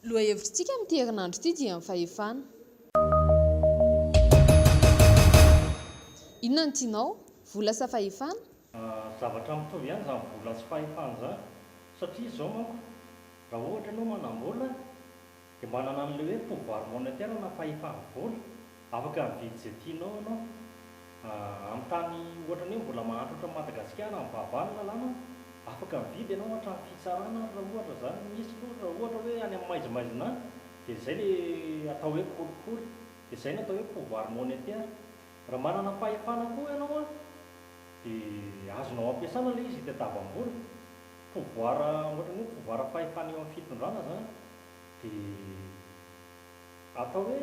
Lohahevitr'tsika amin'ity herinandro ity dia ny fahefana. Inona no tianao? Vola sa fahefana? Zavatra mitovy ihany izany vola sy fahefana izany satria izao manko raha ohatra ianao manam-bola dia manana an'ilay hoe pouvoir monétaire na fahefam-bola, afaka mividy izay tianao ianao amin'ny tany ohatra ny hoe mbola mahantra ohatran'i Madagasikara amin'ny vava ny lalàna, afaka mividy ianao hatramin'ny fitsarana ary raha ohatra izany misy fa raha ohatra hoe any amin'ny maizimaizina any dia izay ilay atao hoe kolikoly, dia izay no atao hoe pouvoir monétaire. Raha manana fahefana koa ianao an, dia azonao ampiasana ilay izy hitadiavam-bola. Pouvoir, ohatran'ny hoe pouvoir fahefana eo amin'ny fitondrana izany. Dia atao hoe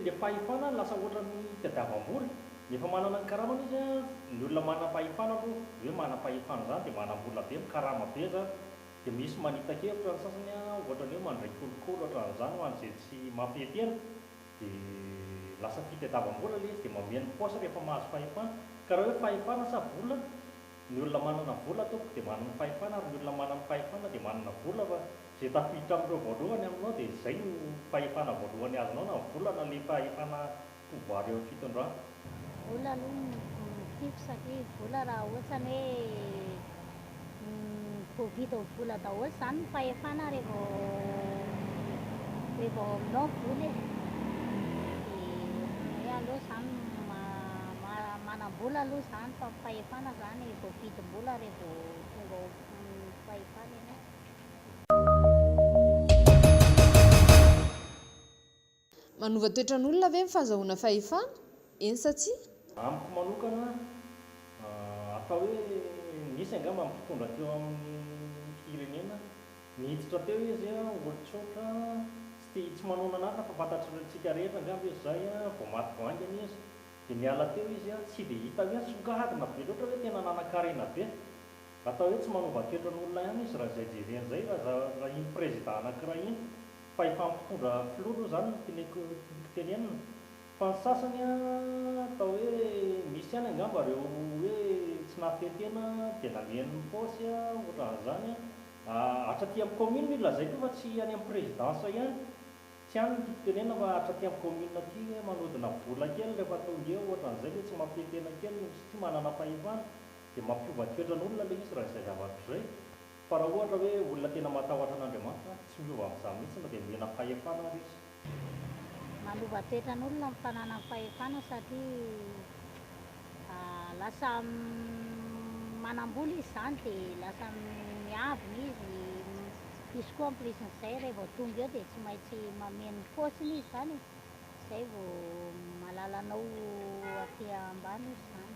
ilay fahefana lasa ohatran'ny hitadiavam-bola. Ny efa manana ny karamany izy an, ny olona manam-pahefana aloha, ny hoe manam-pahefana izany dia manam-bola be, mikarama be izany. Dia misy manita-kevitra ny sasany an, ohatran'ny hoe mandray kolikoly ohatran'izany ho an'izay tsy mampety ela. Dia lasa tia tadiavam-bola ilay izy dia mameno paosy rehefa mahazo fahefana. Ka raha hoe fahefana sa vola? Ny olona manana vola tompoko dia manana fahefana ary ny olona manana fahefana dia manana vola fa izay tafiditra amin'ireo voalohany aminao dia izay no fahefana voalohany azonao na ny vola na ilay fahefana pouvoir eo amin'ny fitondrana. Vola aloha no tiako satria vola raha ohatrany hoe voavidy ao vola daholo izany ny fahefana re vao re vao aminao vola e! dia hoe aleo izany ma- manam-bola aloha izany fa ny fahefana izany vao vidim-bola re vao tonga ao fahefana ianao. Manova toetran'olona ve ny fahazahoana fahefana? Eny sa tsia? Amiko manokana, atao hoe nisy angamba ny mpitondra teo amin'ny firenena, niditra teo izy, olon-tsotra, tsy tia, tsy manao nanatona fa fantatsika rehetra angamba izy izay, vao maty vao haingana izy, dia niala teo izy, tsy dia hita hoe nisongadina be loatra hoe tena nanan-karena be. Atao hoe tsy manova toetran'olona ihany izy raha izay jerena izay, raha iny prezida anankiray iny. Fa efa mpitondra filoha aloha zany no teneko tokony tenenina fa ny sasany atao hoe misy ihany angamba reo hoe tsy nafehy tena de namehany ny paosy otran'izany atra aty am commune io lazaiko io fa tsy any am presidence ihany tsy any no tiako tenenina fa atra aty am commune aty hoe manodina vola kely refa tonga eo otran'izay le tsy mafehy tena kely satria manana fahefana de mampiova toetran'olona le izy raha izay zavatra izay. Fa raha ohatra hoe olona tena matahotra an'Andriamanitra, tsy miova amin'izany mihitsy na dia nomena fahefana ary izy. Manova toetra ny olona ny fananany fahefana satria lasa manam-bola izy izany dia lasa miavona izy, izy koa en plus n'izay raha vao tonga eo dia tsy maintsy mameno ny paosiny izy izany e, izay vao mahalala anao aty ambany izy izany.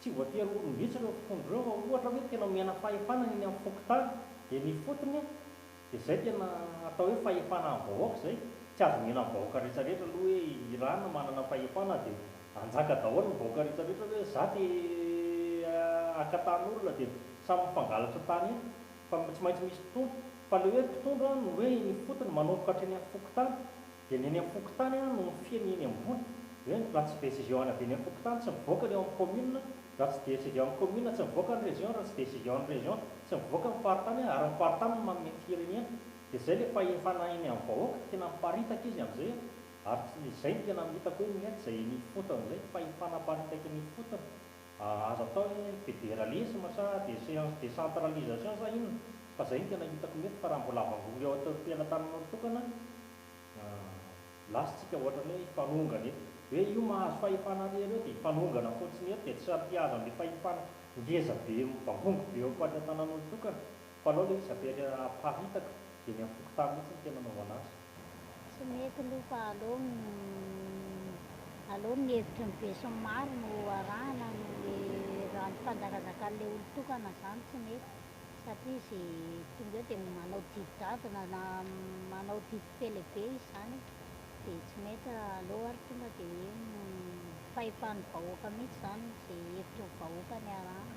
Tsy voatery olom-bitsy ireo mpitondra ireo raha ohatra hoe tena omena fahefana ny eny amin'ny fokontany dia ny fotony a! dia izay tena atao hoe fahefana amin'ny vahoaka izay, tsy azo omena ny vahoaka rehetra rehetra aloha hoe Iran manana fahefana dia hanjaka daholo ny vahoaka rehetra rehetra hoe za te haka tany olona dia samy mifangalatra tany eny fa tsy maintsy misy mpitondra fa ilay hoe mpitondra no hoe eny ifotony manomboka hatreny amin'ny fokontany Dia ny eny am-pokontany no mifehy ny eny ambony. Hoe raha tsy decision-na avy eny am-pokontany tsy mivoaka ny eo amin'ny commune, raha tsy decision amin'ny commune tsy mivoaka ny région, raha tsy decision ny région tsy mivoaka ny faritany ary ny faritany no manome ny firenena. Dia izay ilay fahefana eny amin'ny vahoaka, tena miparitaka izy amin'izay an! Ary izay no tena hitako hoe mety izay eny ifotony izay, fahefana miparitaka eny ifotony. Aza atao ny hoe federalisme sa decentralisation sa inona fa zay no tena hitako mety fa raha mbola avangory ao atorimpela tananao tokana lasa tsika ohatrany hoe hifanongana eto hoe io mahazo fahefana ary ireo dia hifanongana fotsiny eto dia tsy hampiazany le fahefana ngeza be mivangongo be eo am-pady an-tanan'olo-tokana fa alao le izy aparitaka dia eny am-fokontany mihitsy no tena anaovana azy. Tsy mety aloha fa aleo aleo ny hevitry ny besinimaro no arahana noho le rano fanjakazakan'ilay olon-tokana zany tsy mety satria ze tonga eo de manao didy jadona na manao didy be lehibe izy zany de tsy mety aleo ary tonga de hoe fahefan'ny vahoaka mihintsy zany ze hevitry ny vahoaka ny arahana